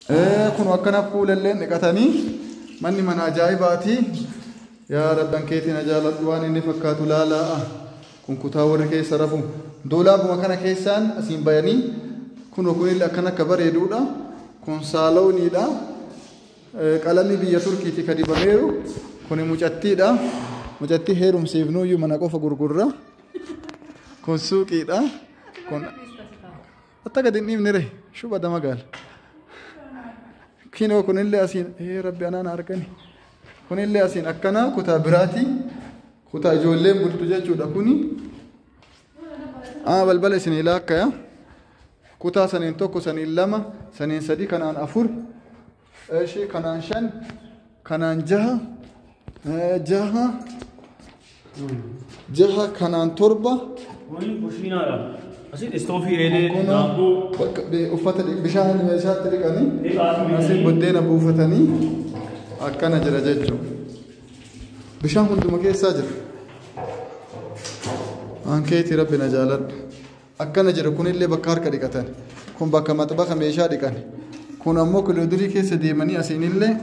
Ee kun akkana kuulelleen dhiqatanii manni mana ajaa'ibaati yaa rabban keetii na jaaladhu waan inni fakkaatu laalaa kun kutaa warri keessa rafu doolaabuma kana keessaan asiin bayanii kun kunillee akkan akka bareeduudha kun saalooniidha qalamni biyya turkiiti ka dibameeru kun mucattiidha mucattii heerumsiifnuyyuu mana qofa gurgurra kun suuqiidha kun Atta gad hin dhiifne ree shuba dama gaala. Kinoo kunillee asiin ee rabbi anaan argani. Kunillee asiin akkanaa kutaa biraatii kutaa ijoolleen bultu jechuudha kuni. Aa balbala isin ilaa akkaya. Kutaa saniin tokko saniin lama saniin sadii kanaan afur Eshi kanaan shan kanaan jaha eh, jaha jaha kanaan torba Kun kushiinaadha. Asitti istoofii eelee Kun daakuu bakka bi- uffata dhi- bishaan meeshaatti dhiqanii dhiqaatu asii buddeena buufatanii akkana jira jechuudha. Bishaan hunduma keessaa jira. Ankeetii rabbi na jaaladha. Akkana jedha kunillee bakka harka dhiqatan. Kun bakka maxbaka meeshaa dhiqan. Kun ammoo kiloodurii keessa deemanii asiinillee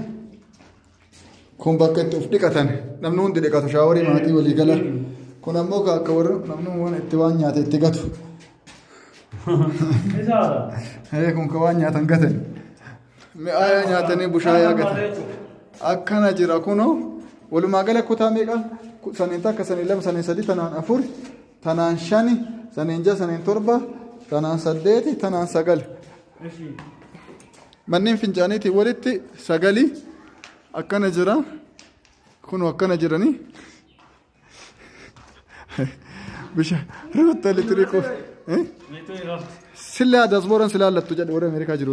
kun bakka itti of dhiqatan. Namni hundi dhiqatu shaaworii maatii walii gala. Kun ammoo ka akka warra namni waan itti waan nyaate itti gatu. Ee kun ka waan nyaatan gatan. Mi'aayaa nyaatanii bushaayaa gatan. Akkana jira kunoo walumaa gala kutaa meeqa? Ku- Saniin takka saniin lama saniin sadii tanaan afur Tanaan shani, saniin ja'a, saniin torba, tanaan saddeeti, tanaan sagali. Manneen fincaaniitii walitti sagali akkana jira. Kunoo akkana jiranii. Bishaan ruutta litiri koo. Sillee aadaas booran silaa lattu jedhu warra Ameerikaa jiru.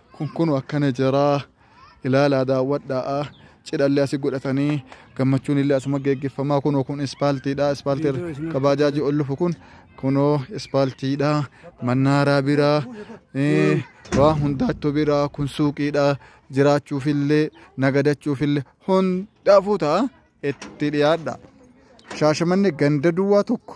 kun kunu akkana jiraa ilaalaa daawwadhaa cidhallee asi godhatanii gammachuun illee asuma geggeeffamaa kunoo kun ispaaltiidha ispaaltii kabaajaajii ol lufu kun kunoo ispaaltiidha mannaaraa biraa eh, waa hundaattu biraa kun suuqiidha jiraachuufillee nagadachuufillee hundaafuu ta'a itti dhiyaadha shaashamanni ganda duwwaa tokko